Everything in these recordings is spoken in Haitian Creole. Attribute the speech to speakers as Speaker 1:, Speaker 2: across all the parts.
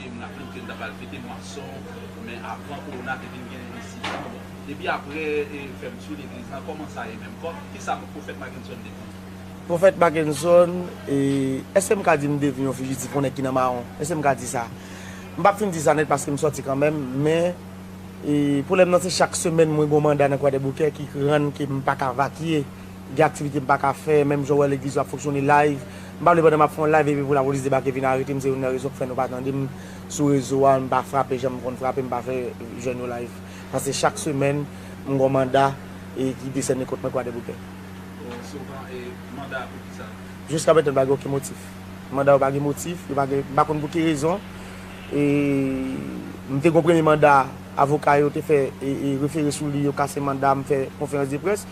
Speaker 1: e m raple m ke m ta pral fete mwason men avan kowona te vin gen isi tou bon epi apre fèmtu legliz lan kòman sa ye menm kòk kisa pwofèt Makenson te di. Pwofèt
Speaker 2: Makenson èske m ka di m te vin yon fijitif yon nèg ki nan mawon èske m ka di sa m pap fin di sa nèt paske m sòti kanmèm men pwoblèm nan se chak semèn mwen gen yon manda nan kwadèboukè ki rann ke m paka vakye Gen aktivite m pa ka fè, menm jan w wè legliz yo ap fonksyone live. M pa vle pandan m ap fè yon live epi pou lapolis debake vin arete m, se youn nan rezon k fè nou pa tande m sou rezo a, m pa frape jan m konn frape, m pa fè jèn yo live. Paske chak semèn m gon manda ki desène kont mwen Kwadèboukè. Bon, souvan
Speaker 1: e manda a pou kisa? Jiska mentan m pa gen oken
Speaker 2: motif. Manda yo pa gen motif, yo pa gen, m pa konn pou ki rezon. E m te gon premye manda avoka yo te fè e refere sou li, yo kase manda a, m fè konferans de près.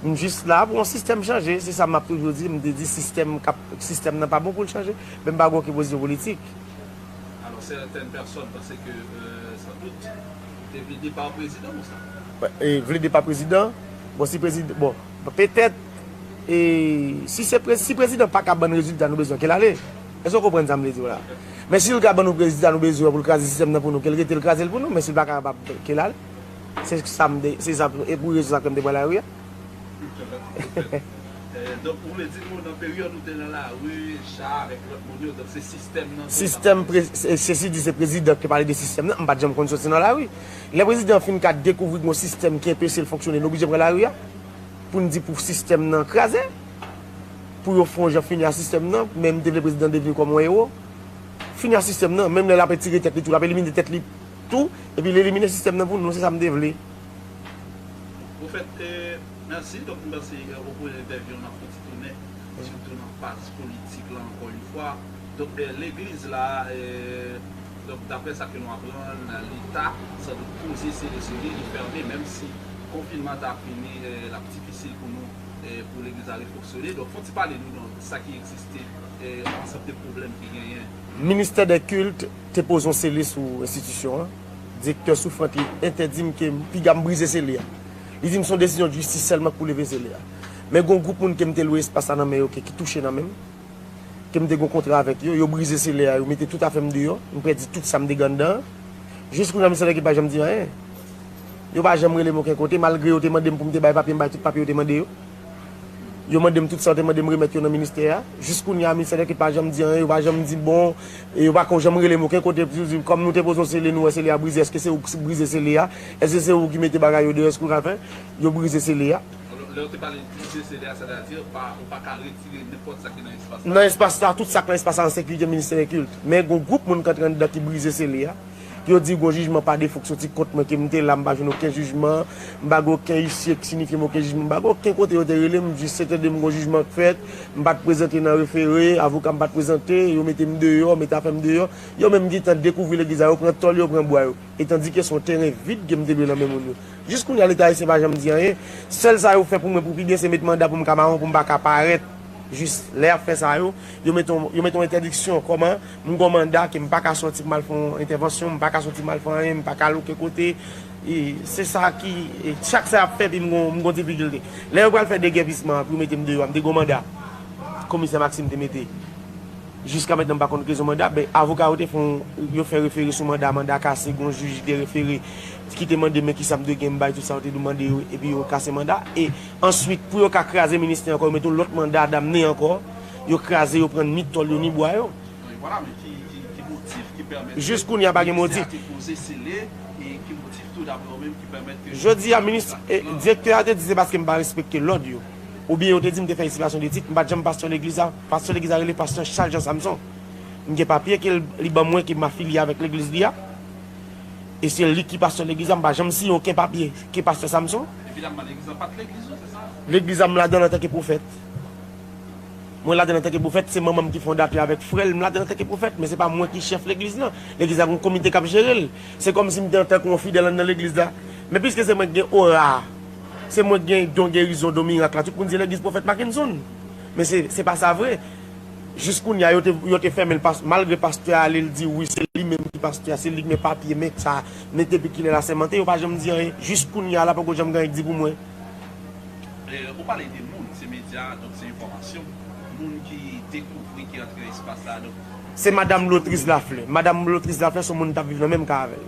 Speaker 2: M jis la pou yon sistèm chanje, se sa m ap toujou di, m te di sistèm k ap, sistèm nan pa bon pou l chanje, men m pa gen oken pozisyon politik. Alò
Speaker 1: sètèn pèsòn panse ke san dout li te vle depa prezidan ou sa? Vle depa prezidan?
Speaker 2: Bon si prezidan, bon petèt e si se prezi, si prezidan pa ka ban n rezilta nou bezwen ke l ale, èske w konprann sa m vle di w la? Men si l ka ban nou prezita nou bezwen pou l kraze sistèm nan pou nou, ke l rete l kraze l pou nou, men si l pa kapab, ke l ale. Se sa m te, se sa m, e pou rezon sa ke m te pran lari a.
Speaker 1: Donk, ou vle di nou nan peryòd ou te nan lari, Cha avèk lòt moun yo, donk se sistèm nan ki te
Speaker 2: nan lari? Sistèm, sesi di se prezidan ki pale de sistèm nan, m pa t janm konn soti nan lari. Lè prezidan fin ka dekouvri gen yon sistèm ki enpeche l fonksyone, li oblije pran lari a pou n di pou sistèm nan kraze, pou yo fè yon jan fini ak sistèm nan. Men m te vle prezidan devni kòm yon ewo, fini ak sistèm nan, menm lè l ap etire tèt li tou, l ap elimine tèt li. Tou, epi l elimine sistèm nan pou nou, se sa m te vle.
Speaker 1: Pwofèt, Mèsi. Donk m panse ou pwen entèvyou an ap fon ti tounen, sitou nan faz politik la ankò yon fwa. Donk legliz la, donk daprè sa ke nou aprann, leta san dout poze sele sou li, li fèmen, menm si konfinman an ta fini, l ap difisil pou nou, pou legliz la refonksyone. Donk fon ti pale nou nan sa ki egziste, ansanm de pwoblèm ki genyen. Ministè dè
Speaker 2: kilt. Te poze yon sele sou enstitisyon an. Direktè Souffrant te entèdi m ke m piga m brize sele a. Li di m se yon desizyon jistis sèlman k pou leve sele a. Men gen yon gwoup moun ke m te lwe espas la nan men yo ke ki touche nan men m, ke m te gen yon kontra avèk yo. Yo brize sele a, yo mete tout afè m deyò. M pèdi tout sa m te gen anndan an. Jis kounye a m santi ke yo pa janm di anyen. Yo pa janm rele m oken kote, malgre yo te mande m pou m te bay papye, m bay tout papye yo te mande yo. Yo mande m tout sa yo te mande m remèt yo nan ministè a. Jis kounye a ministè dèkèt pa janm di anyen, yo pa janm di bon, yo pa ko janm rele m oken kote pou yo di m kòm nou te poze yon sele nou wè sele a brize èske se ou ki brize sele a? Èske se ou ki mete bagay yo deyò èske ou ka fè yo brize sele a? Alò lè yo te pale
Speaker 1: brize sele a sètadi ou pa ou pa ka retire nenpòt sa ki nan espas la? Nan espas la tout sa k
Speaker 2: nan espas la an sekirite ministè dè kilt men gon gwoup moun k antre anndan ki brize sele a. Yo di gon jijman pa defo k soti kont mwen ke m te la m pa jwenn oken jijman m pa gen oken isye k sinifye m oken jijman m pa gen oken kote yo te rele m jis se te de m gon jijman k fèt m pa t prezante nan refere avoka m pa t prezante yo mete m deyò mete afè m deyò yo menm gentan dekouvri legliz la yo pran tòl yo pran bwa yo etandike se yon teren vid ke m te lwe nan men moun yo jis kounye a leta ayisyen pa janm di anyen sèl sa yo fè pou mwen pou pi byen se met manda pou m ka mawon pou m pa ka parèt jis lè y ap fè sa yo yo mete yon entèdiksyon kòman. M gon manda ke m pa ka sòti pou m al fè yon entèvansyon, m pa ka sòti mal fè anyen, m pa ka al oken kote. E se sa ki, chak sa y ap fè epi m gon, m gon difikilte. Lè yo pral fè degèpisman an pou yo mete m deyò a, m te gon manda komisè Maxime te mete. Jiska mentnan m pa konn rezon manda, men avoka yo te fè yon, yo fè refere sou manda, manda kase, gon jij ki te refere, ki te mande men kisa m dwe gen, m bay tout sa yo te dwe mande yo, epi yo kase manda. E answit pou yo ka kraze ministè ankò, yo mete yon lòt manda damne ankò. Yo kraze yo pran ni tòl yo ni bwa yo.
Speaker 1: Jis kounya pa gen motif. Jodi a minis
Speaker 2: direktè a te di se paske m pa respekte lòd yo. Ou byen yo te di m te fè esipasyon de tit. M pat janm pastè legliz la. Pastè legliz la rele pastè Charles Jean Samson. M gen papye ke li ban mwen ke m afilye avèk legliz li a. E se li ki pastè legliz la. M pa janm siyen oken papye ke pastè Samson.
Speaker 1: Legliz la m ladan l antanke
Speaker 2: pwofèt. Mwen ladann antanke pwofèt, se manman m ki fondatè avèk frè l, m ladann antanke pwofèt, men se pa mwen ki chèf legliz nan. Legliz la gen yon komite k ap jere l. Se kòmsi m te antanke yon fidèl anndan legliz la. Men piske se mwen ki gen ora a, se mwen ki gen don gerizon, don mirak la, tout moun di legliz pwofèt Mackenson. Men se pa sa vre. Jis kounye a, yo te fèmen l malgre pastè a ale l di wi se li menm ki pastè a, se li ki gen papye, men sa, men depi kilè l asèmante, yo pa janm di anyen. Jis kounye a la poko janm gen anyen ki di pou mwen.
Speaker 1: Ou pale de moun, se medya, donk se enfòmasyon. Moun ki dekouvri, ki antre nan espas la, donk. Se madam
Speaker 2: Lotriz Laflè. Madam Lotriz Laflè se yon moun m t ap viv nan menm ka avè l.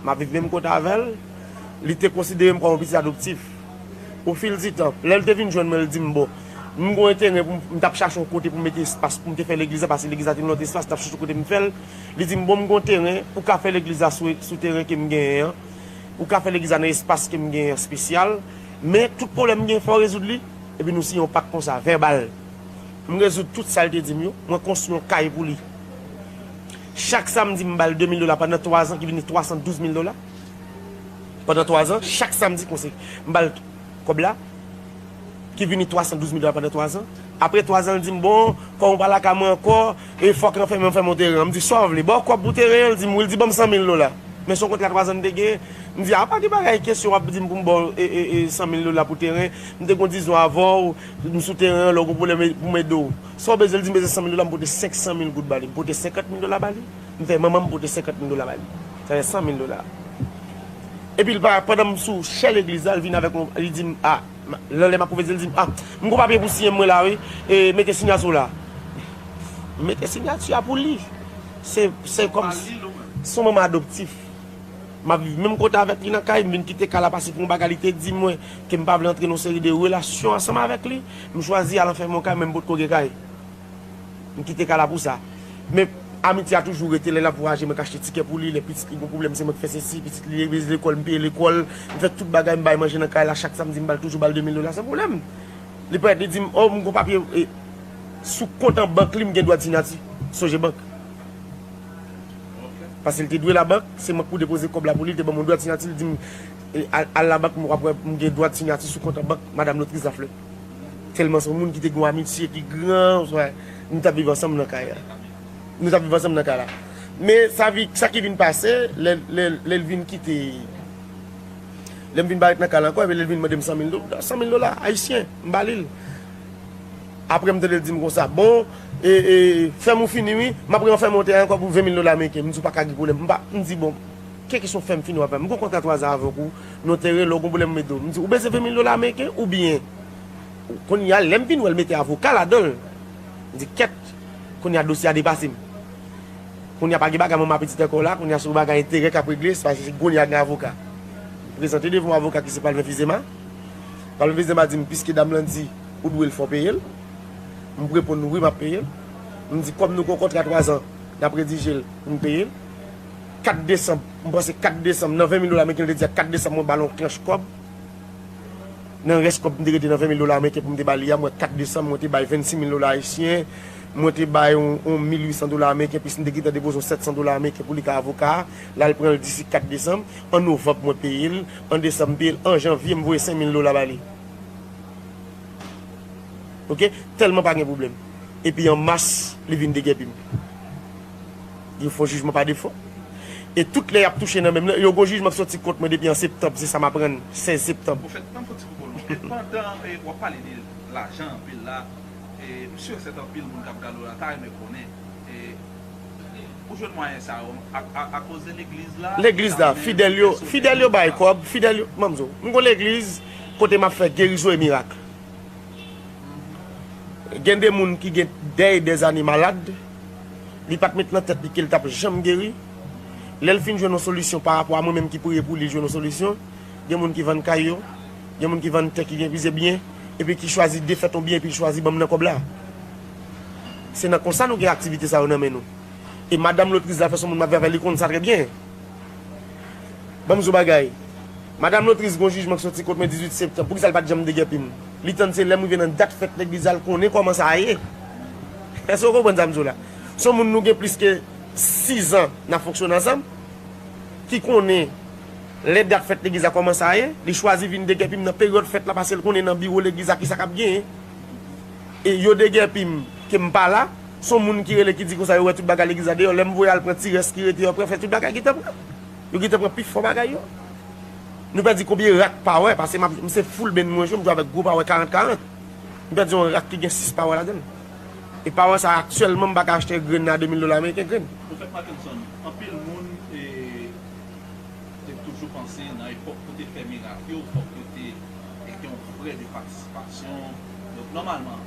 Speaker 2: M ap viv menm kote avè l. Li te konsidere m kòm yon pitit adoptif. O fil di tan, lè l te vin jwenn mwen, l di m, bon, m gen yon teren pou m, m t ap chache yon kote pou m mete espas pou m te fè legliz la pase legliz la te nan yon lòt espas, m t ap chache kote m fè l. Li di m, bon, m gen yon teren, ou ka fè legliz la sou teren ke m genyen an. Ou ka fè legliz la nan espas ke m gen an spesyal, men tout pwoblèm m gen fè w rezoud li, epi nou siyen yon pak konsa, vèbal. M rezoud tout sa l te di m yo, mwen konstwi yon kay pou li. Chak samdi m ba l 2 mil dola pandan 3 zan ki vini 312 mil dola. Pandan 3 zan, chak samdi konse m ba l kòb la ki vini 312 mil dola pandan 3 zan. Apre 3 zan l di m bon, kòm ou pa lakay mwen ankò, E fòk lan fèmen, m fèmen yon teren an, m di sa w vle? Ba w kòb pou teren an? L di m wi, l di ban m 100 mil dola. Men son kont la twazan m te genyen. M di a pa gen bagay kesyon w ap di m pou m ba w 100 mil dola pou teren, m te gon dizon avè w, m sou teren an lè w gon pwoblèm e pou m ede w. Sa w bezwen? L di m bezwen 100 mil dola, m pote 500 mil goud ba li. M pote 50 mil dola ba li, m fè manman m pote 50 mil dola ba li. Sa fè 100 mil dola. Epi l pa, pandan m sou chè legliz la, l vin avèk yon, li di m a. Nan lè map koupe dil dim ah m gou papye pou siyen mwen la wi e mete sinyati w la mete sinyati a pou li se se kòm si son manman adoptif map viv menm kote avèk li nan kay m vin kite kay la pase pou yon bagay li te di mwen ke m pa vle antre nan yon seri de relasyon ansanm avèk li m chwazi al anfèmen yon kay mwen m potko gen kay. M kite kay la pou sa. Men, amitye a toujou rete. Lè l ap vwayaje, mwen k achte tikè pou li. Lè pitit li gen pwoblèm, se mwen ki fè sesi. Pitit li leve lekòl, m peye lekòl. M fè tout bagay. M bay manje nan kay la. Chak samdi, m ba l toujou ba l demil dola san pwoblèm. Li parèt, li di m, O, m gen yon papye sou kont an bank li, m gen dwa di Nati, sonje bank. Pase l te dwe labank, se mwen k pou depoze kòb la pou li. Li te ban mwen yon dwa di Nati, li di m, Al labank, m gen dwa di Nati sou kont an bank Madam Lotrice Lafleur. Tèlman se yon moun ki te gen yon amitye ki gran, oswa nou t ap viv ansanm nan kay la. Nou t ap viv ansanm nan kay la. Men sa ki vin pase, lè l vin kite, lè m vin parèt nan kay la ankò, epi lè l vin mande m sanmil dola, sanmil dola ayisyen, m ba li l. Apre m tande l di m konsa, bon, e, e, fèm ou fini wi, m ap re-anfèmen yon tè ankò pou venmil dola ameriken. M di w pa ka gen pwoblèm. M pa, m di bon. Kè kesyon fèm fini wap la. M gon kontra 3 zan avèk ou, notary, lè w gon pwoblèm m ede w. M di, ou bezwen 20 mil dola ameriken oubyen? Kounye a lè m vin wè l mete avoka ladan l, m di kèt, kounye a dosye a depase m. Kounye a pa gen bagay manman pitit ankò la, kounye a se yon bagay enterè k ap regle, se pa se kounye a gen avoka. M prezante devan yon avoka ki se Palvin Fizema. Palvin Fizema di m, piske dam lan di ou dwe l fò w peye l. M reponn wi m ap peye l. M di kòm nou gon kontra 3 zan, n ap redije l pou m peye l. 4 desanm, m panse 4 desanm, nan 20,000 dola meriken, yo te di ak 4 desanm mwen ba l yon tranch kòb, nan rès kòb m te rete nan 20,000 dola meriken pou m te ba li a, mwen 4 desanm mwen te bay 26,000 dola ayisyen, mwen te bay yon 1,800 dola meriken plis m te gentan depoze yon 700 dola meriken pou li ka avoka a, la l pran l disi 4 desanm, an novanm mwen peye l, an desanm m peye l, an janvye m voye 5,000 dola ba li. Ok, tèlman pa gen pwoblèm. Epi an mas li vin degèpi m. Yon fo jijman pa defo. E tout lè yap touche nan menm nan. Yo gon jijman ki soti kont mwen depi an septanb se sa m aprann 16 septanb. Ou fèt tann fò ti koko non.
Speaker 1: E pandan wap pale de lajan anpil la, m sur et certain anpil moun kap gade w la ta renmen konnen ou jwenn mwayen sa yo a koz de legliz la? Legliz la, fidèl
Speaker 2: yo, fidèl yo bay kòb, fidèl yo, banm di w, m gon legliz kote map fè gerizon e mirak. Gen de moun ki gen dè e dè ane malad. Li pat met nan tèt li kel tap janm geri. Lèl fin jwenn yon solisyon pa rapò a mwen menm ki priye pou li jwenn yon solisyon, gen moun ki vann kay yo, gen moun ki vann tè ki gen plizyè byen epi ki chwazi defèt yon byen epi l chwazi banm nan kòb la. Se nan konsa nou gen aktivite sa yo nan men nou. E madanm lotriz la fè son moun map viv avèl li konn sa trè byen. Ban m di w bagay. Madam Lotris gen yon jijman k soti kont mwen 18 septanm. Poukisa l pa t janm degèpi m? Li tann se lè m rive nan dat fèt legliz la l konnen kòman sa ye. Èske w konprann sa m di w la? Se yon moun nou gen plis ke sizan n ap fonksyone ansanm, ki konnen lè dat fèt legliz la kòman sa ye. Li chwazi vin degèpi m nan peryòd fèt la pase l konnen nan biwo legliz la kisa k ap genyen. Yo degèpi m ke m pa la. S on moun ki rele ki di konsa yo wè tout bagay legliz la deyò. Lè m voye al pran ti rès ki rete yo ap refè tout bagay gentan pran. Yo gentan pran pi fò bagay yo. Nou pèdi konbyen rak pawè pase m ap m se full band mwen jwe m jwe avèk gwo pawè 40 40. M pèdi yon rak ki gen 6 pawè ladan l. E pawè sa aktyèlman m pa ka achte grenn nan a 2000 dola ameriken grenn. Pwofèt Mackenson,
Speaker 1: anpil moun te toujou panse nan epòk pou te fè mirak yo fòk yo te gen yon frè de patisipasyon. Donk nòmalman,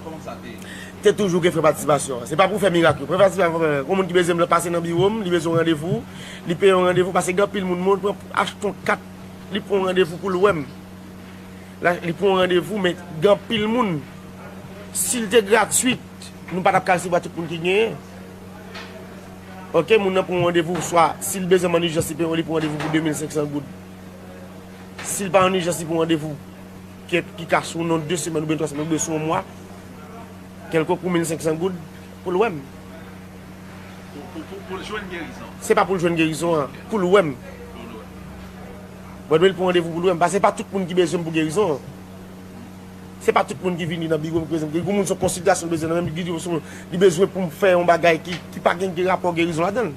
Speaker 1: kòman sa te. Te toujou gen frè
Speaker 2: patisipasyon an. Se pa pou fè mirak yo. Frè patisipasyon an fè. Yon moun ki bezwen m pase nan biwo m, li bezwen yon randevou, li peye yon randevou pase gen anpil moun moun pran achte yon kat, li pran yon randevou pou l wè m. Li pran yon randevou men gen anpil moun. Si l te gratwit, nou pa t ap ka resevwa tout moun ki genyen. Ok, moun nan pran yon randevou swa si l bezwen m an ijans li peye yon li pran yon randevou pou 2500 goud. Si l pa an ijans li pran yon randevou. kèt ki ka sou non 2 semèn oubyen 3 semèn oubyen sou yon mwa, kèlkonk pou 1500 goud pou l wè m.
Speaker 1: Pou l jwenn gerizon? Se pa pou l jwenn gerizon
Speaker 2: an, pou l wè m. Pou l wè m. Mwen dwe l pran randevou pou l wè m, paske se pa tout moun ki bezwen m pou gerizon an. Se pa tout moun ki vini nan biwo m ki bezwen m pou gerizon an. Gen moun se yon konsiltasyon li bezwen nan men m, gen ki se yon, li bezwen pou m fè yon bagay ki pa gen rapò gerizon ladan l.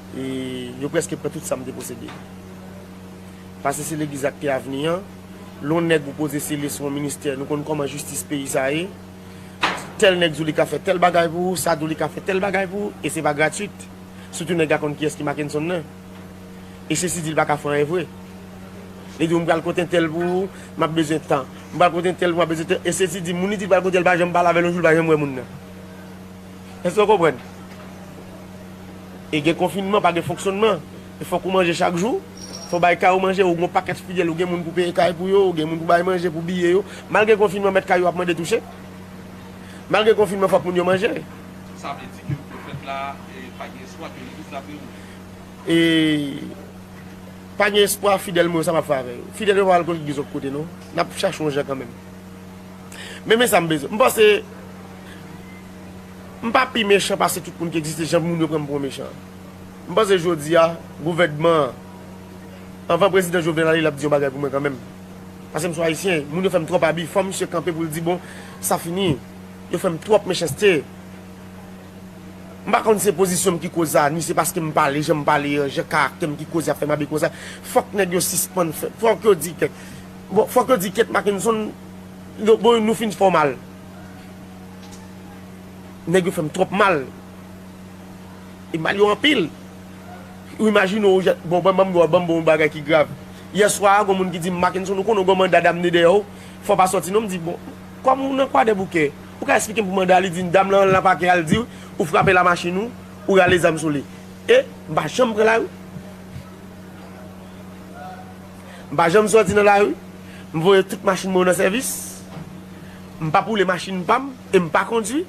Speaker 2: E yo preske pran tout sam te posede. Pase se legliz ak te avni an. Lon neg ou poze sele sou yon ministè nou konn koman jistis peyi sa ye. Tel neg di w li ka fe tel bagay pou ou, sa di w li ka fe tel bagay pou ou e se pa gratuit. Sitou neg la konn kiyes ki Makenson nan. E sesi di l pa ka fè anyen vre. Li di w m pral kot entel pou ou, m ap bezwen tan. M pral kot entel pou ou, m ap bezwen tan. E sesi di moun li di l pral kote l pa janm pale avè l yon jou l pa janm wè moun nan. Èske w konprann? E gen konfinman, pa gen fonksyonnman. E fòk ou manje chak jou. Fò bay kay ou manje, ou gen yon pakèt fidèl, ou gen moun pou peye kay pou yo, ou gen moun pou bay manje, pou biye yo. Malgre konfinman, mèt kay yo ap mande touche. Malgre konfinman, fòk moun yo manje. Sa vle di ke
Speaker 1: pwofèt la pa gen espwa ke legliz la ap reouvri? E
Speaker 2: pa gen espwa, fidèl mwen yo, sa m ap fè avè yo? Fidèl yo pa pral kontribye zòt kote non. N ap chache yon jan kanmenm. Men men sa m bezwen. M panse m pa pi mechan pase tout moun ki egziste jan moun yo pran m pou yon mechan. M panse jodi a gouvènman an anvan prezidan Jovenel ale l ap di yon bagay pou mwen kanmenm. Pase m sou ayisyen, moun yo fè m twòp abi, fò misye kanpe pou l di bon sa fini. Yo fè m twòp mechanste. M pa konn se pozisyon m ki koz sa ni se paske m pale jan m pale an, jan karaktè m ki koz y ap fè m abi konsa. Fòk nèg yo sispann fè, fòk yo di ke. Bon fok yo di Kate Mackenson yo bon nou fin fò mal nèg yo fèm twòp mal e mal yo anpil ou imajine ou jèt bon banm ou banm bon bagay ki grav yè swa gon moun ki dim Mackenson ou konnen ou gon manda damne dèyè ou fò pa sòti non m di bon kòm ou nan kwadèboukè ou ka esplikem pou manda li dim dam lan al nan pakè al di ou frape lamachin ou ou rale zam sou li e m pa janm pran lari. M pa janm sòti nan lari, m voye tout machin mwen yo nan sèvis, m pap woule machin pa m e m pa kondwi,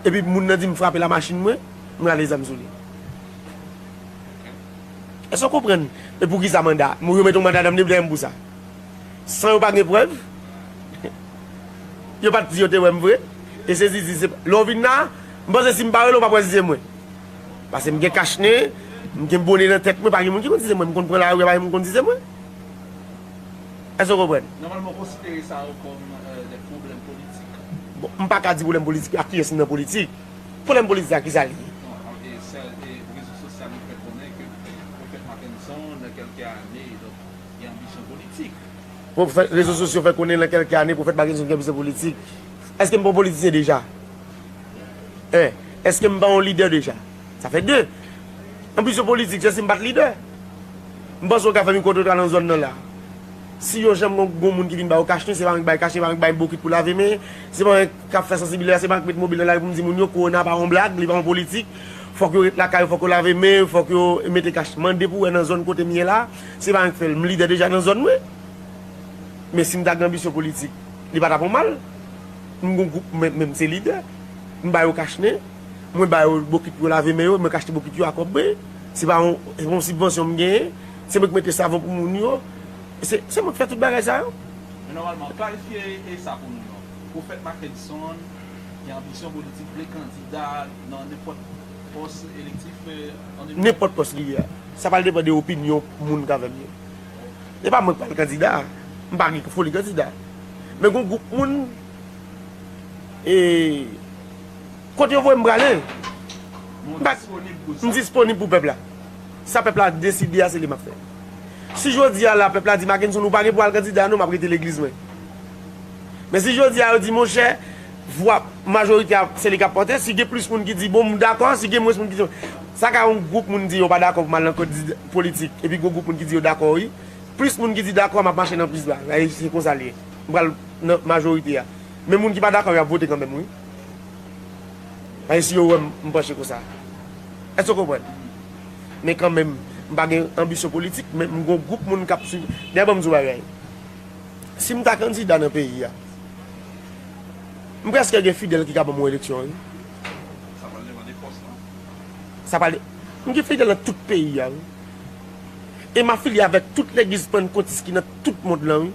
Speaker 2: epi moun nan di m frape lamachin mwen, m rale zam sou li. Èske w konprann e poukisa manda, yo mete yon manda nan m dèyè m pou sa? San yo pa gen prèv, yo pa t di yo te wè m vre e se zizi se, lè w vin la a, m panse si m pa rele w pap wè si se mwen. Pase m gen kach nen, m gen bone nan tèt mwen, pa gen moun ki konn di se mwen, m konn pran lari a pa gen moun ki konn di se mwen. Èske w konprann? Nòmalman w konsidere sa
Speaker 1: yo kòm de pwoblèm politik? Bon, m pa ka di pwoblèm
Speaker 2: politik, ak kiyès m nan politik? Pwoblèm politik ak kisa l ye? Non, e sè e rezo sosyal yo fè konnen ke Pwofèt Mackenson nan kèlke ane donk gen anbisyon politik. Pwofèt, rezo sosyo fè konnen nan kèlke ane Pwofèt Mackenson gen anbisyon politik. Èske m pa yon politisyen deja? 1, Eske m pa yon lidè deja? Sa fè 2. Anplis yo politik, se si m pa t lidè. M panse w ka fè mikwo twotwa nan zòn nan la. Si yon janm gen yon moun ki vin ba ou kachnen, se pa mwen ki bay kachnen, se pa mwen ki bay bokit pou lave men, se pa mwen k ap fè sansibilizasyon, se pa mwen k met mobil nan lari pou m di moun yo kowona pa yon blag, li pa yon politik, fòk yo ret lakay yo, fòk yo lave men yo, fòk yo mete kachnen. Mande pou w wè nan zòn kote m ye la, se pa mwen k fè l. M lidè deja nan zòn mwen. Men si m ta gen anbisyon politik, li pa t ap yon mal. M gon gwoup mwen menm se lidè. M ba yo kach nen. Mwen ba yo bokit pou yo lave men yo e mwen k achte bokit yo a kòb mwen. Se pa yon sibvansyon m genyen. Se mwen ki mete savon pou moun yo. Se mwen ki fè tout bagay sa yo. Men nòmalman,
Speaker 1: klarifye sa pou nou non. Prophète Mackenson gen anbisyon politik, vle kandida nan nenpòt pòs elektif an 2024? Nenpòt pòs
Speaker 2: li vle a. Sa pral depan de opinyon moun k avè m yo. E pa mwen k pral kandida, m pa gen pou foli kandida. Men gon gwoup moun, e, kote yo voye m prale, m disponib pou pèp la. Sa pèp la deside a, se li m ap fè. Si jodi a la, pèp la di, Makenson, ou pa gen pou al kandida non, m ap rete legliz mwen. Men si jodi a yo di, monchè, vwa majorite a se li kap pote, si gen plis moun ki di bon m dakò, si gen mwens moun ki di, sa ka yon gwoup moun di yo pa dakò pou m al nan kod politik epi gwo gwoup moun ki di yo dakò wi, plis moun ki di dakò map mache nan plis la, e se konsa l ye, m pral nan majorite a, men moun ki pa dakò yo ap vote kanmenm wi, paske si yo wè m panche konsa, èske w konprann? Men kanmenm m pa gen anbisyon politik men m gen yon gwoup moun kap swiv, dayè banm di w yon bagay, si m ta kandida nan peyi a. M preske gen fidel ki ka banm yon eleksyon wi. Sa
Speaker 1: pral depan de pos lan. Sa
Speaker 2: pral depan. M gen fidel nan tout peyi a wi. E m afilye avek tout legliz pannkotis ki nan tout mond lan wi.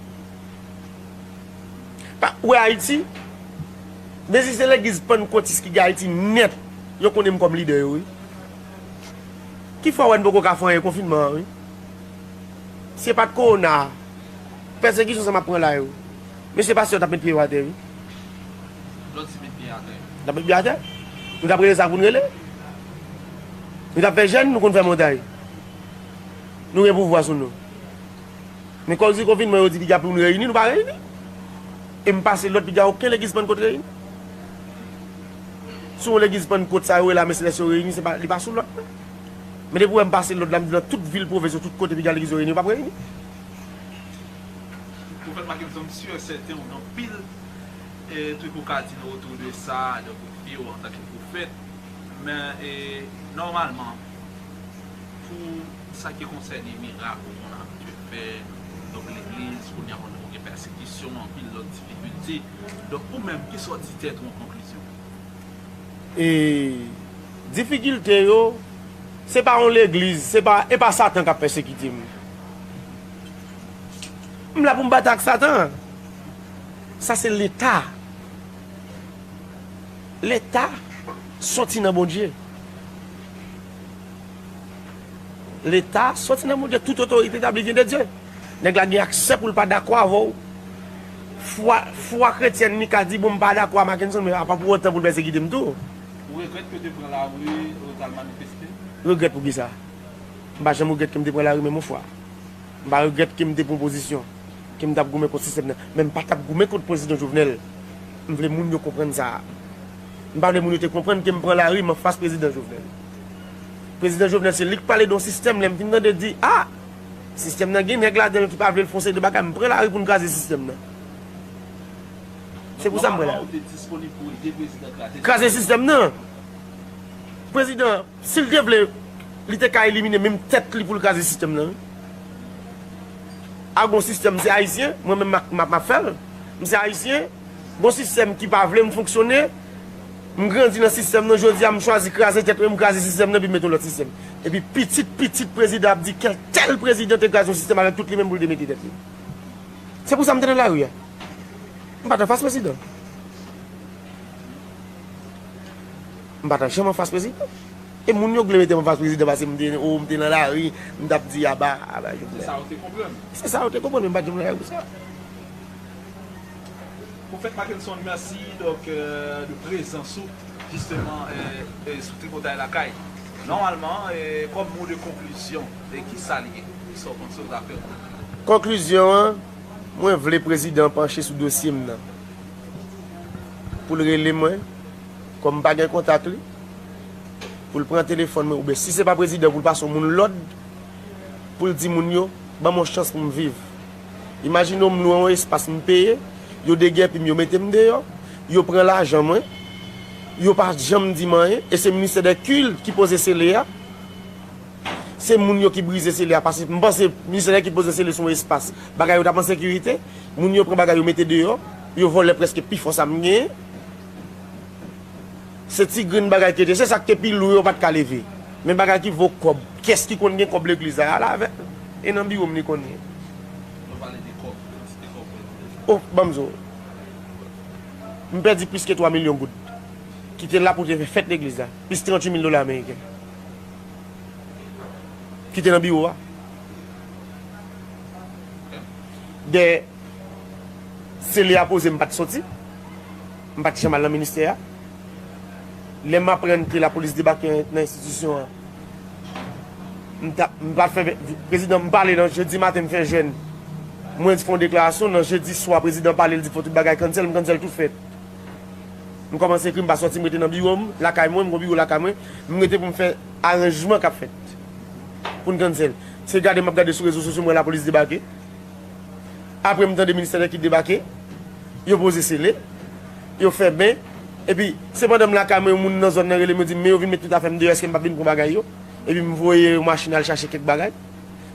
Speaker 2: Pa ou we Ayiti? Men si se legliz pannkotis ki gen Ayiti net yo konnen m kom lidè yo wi. Ki fè ou we n poko ka fè anyen konfinman an wi. Si e pat korona Pèsekisyon sa map pran la yo. Mesye pastè yo tap met pye yo atè wi.
Speaker 1: Lòt di met pye atè. Tap met pye atè.
Speaker 2: Nou tap rele sa poun rele. Nou tap fè jèn nou konn fè montay. Nou gen pouvwa sou nou. Men kòz di konfinman yo di piga poun reyini nou pa reyini. E m pase lòd piga oken legiz pannkot reyini. Sou yon legiz pannkot sa yo rele ame selès yo reyini li pa sou lòt. Men depi ou wè m pase lòd la m di nan tout vil pwovens yo tout kote piga legliz yo reyini yo pap reyini.
Speaker 1: Profèt Makenson m sûr et certain ou gen anpil truc ou ka di nou autour de sa donk ou fye ou antanke profèt men nòmalman pou sa ki konsène mirak ou konn abitye fè donk legliz kounya konnen ou gen pèsekisyon anpil lòt difikilte donk ou menm kisa ou di tèt ou an konklizyon? E
Speaker 2: difikilte yo, se pa yon legliz, se pa, e pa satan kap pèsekite m. M la pou m batay ak satan. Sa se leta. Leta soti nan Bondye. Leta soti nan Bondye, tout otorite tabli vyen de Dye. Nèg la gen aksè pou l pa dakò avè w. Fwa, fwa kretyèn li ka di bon m pa dakò a Mackenson men apa pou otan pou l pèsekite m tou. Ou regrèt ke w te
Speaker 1: pran lari e w t al manifeste? Regrèt pou kisa?
Speaker 2: M pa janm regrèt ke m te pran lari menm yon fwa. M pa regrèt ke m te pran pozisyon, ke m t ap goumen kont sistèm nan. Men m pa t ap goumen kont Prezidan Jovenel. M vle moun yo konprann sa. M pa vle moun yo te konprann ke m pran lari m anfas Prezidan Jovenel. Prezidan Jovenel se li k pale de yon sistèm lè m fin tande di a! Sistèm nan gen nèg ladanl ki pa vlel fon seri de bagay m pran lari poun kraze sistèm nan se pou sa m pran lari
Speaker 1: kraze sistèm nan
Speaker 2: prezidan sil te vle li te ka elimine menm tèt li poul kraze sistèm nan a gon sistèm se ayisyen mwen menm map fèl m se ayisyen gon sistèm ki pa vlem fonksyone M grandi nan sistèm nan jodi a m chwazi kraze tèt mwen m kraze sistèm nan epi m mete yon lòt sistèm. Epi pitit pitit prezidan ap di kèl tèl prezidan te kraze yon sistèm avèk tout li menm pou l te mete tèt li. Se pou sa m te nan lari a. M pa t anfas prezidan. M pa t janm anfas prezidan. E moun yo k vle mete m anfas prezidan pase m te o m te nan lari m t ap di aba aba Jovenel. Se sa yo te
Speaker 1: konprann. Se sa yo te konprann men m pa
Speaker 2: t janm nan lari pou sa.
Speaker 1: Profèt Mackenson merci donc de prezans ou justement sou tripotay lakay normalement comme mot de conclusion kisa li ye kisa ou panse ou ta fè pou nou. Conclusion
Speaker 2: an mwen vle prezidan panche sou dosye m nan poul rele mwen kòm m pa gen kontak li poul pran telefòn mwen oubyen si se pa prezidan poul pase yon moun lòd poul di moun yo banm yon chans pou m viv. Imajine w m lwe yon espas m peye, yo degèpi m yo mete m deyò, yo pran lajan mwen, yo pa janm di m anyen e se ministè dè kilt ki poze sele a, se moun yo ki brize sele a paske m panse ministè dè kilt poze sele se yon espas bagay yo t ap an sekirite, moun yo pran bagay yo mete deyò, yo vòlè prèske pifò sa m genyen. Se ti grenn bagay te ye, se sak te pi lou yo pat ka leve. Men bagay ki vo kòb, kiyès ki konn gen kòb legliz la, al avèl. E nan biwo m li konn ye. Mwen pale de kòb, kantite kòb mwen di deja. Oh, banm di w. M pèdi plis ke 3 milyon goud. Ki te la pou te fè fèt legliz la. Plis 38 mil dola ameriken. Ki te nan biwo a. Dèyè sele a poze m pat soti. M pa t janm al nan ministè a. Lè m aprann ke lapolis debake nan enstitisyon an, m ta, m pa t fè, prezidan m pale nan jedi maten m fè jèn, mwen fon deklarasyon, nan jedi swa prezidan pale l di fò tout bagay cancel, m cancel tout fèt. M kòmanse ekri m pa sòti m rete nan biwo m, lakay mwen, m gon biwo lakay mwen, m rete pou m fè aranjman k ap fèt pou n cancel. Se gade m ap gade sou rezo sosyo m wè lapolis debake. Apre m tande ministè nan kit debake, yo poze sele, yo fèmen, epi se pandan m lakay mwen yon moun nan zòn nan rele m yo di m men yo vin met tout afè m deyò eske m pap vin pran bagay yo, epi m voye yon machin al chache kèk bagay.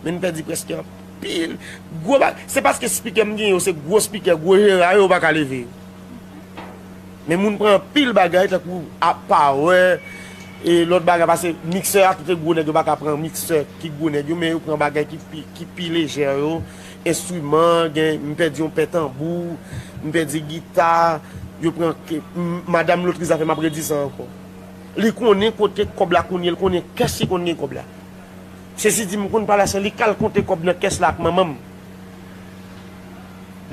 Speaker 2: Men n pèdi prèske anpil gwo bagay. Se paske spikè m gen yo se gwo spikè, gwo jera yo yo pa ka leve yo. Men moun pran anpil bagay tankou power e lòt bagay pase mixer a kite gwo nèg yo paka pran mixer ki gwo nèg yo men yo pran bagay ki pi lejè yo enstriman gen m pèdi yon pè tanbou m pèdi gita yo pran madam lotri zafè map redi sa ankò li konnen kote kòb la kounye l konnen kès li konn gen kòb la sezi di m konn pale a sè li kal konte kòb nan kès la ak manman m.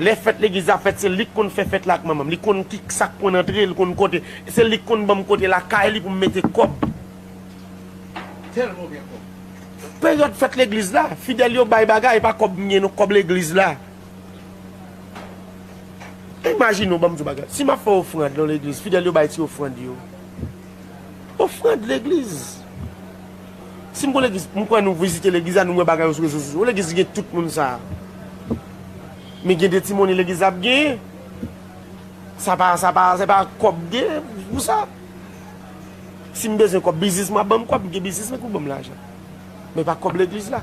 Speaker 2: Lè fèt legliz la fèt se lik konn fè fèt la ak manmanm li konn ki sak pwen antre li konn kote se lik konn banm kote lakay li poum mete kòb
Speaker 1: peryòd
Speaker 2: fèt legliz la fidèl yo bay bagay epa kòb m gen non kòb legliz la imajine w banm di w bagay si map fè ofrand nan legliz fidèl yo bay ti ofrand yo ofrand legliz. Si m kon legliz m kwè nou vizite legliz la nou wè bagay yo sou rezo sosyo legliz gen tout moun sa men gen de ti monnen legliz la ap genyen sa pa sa pa se pa kòb m gen pou sa si m bezwen kòb biznis m ap banm kòb m gen biznis m pou banm lajan men pa kòb legliz la.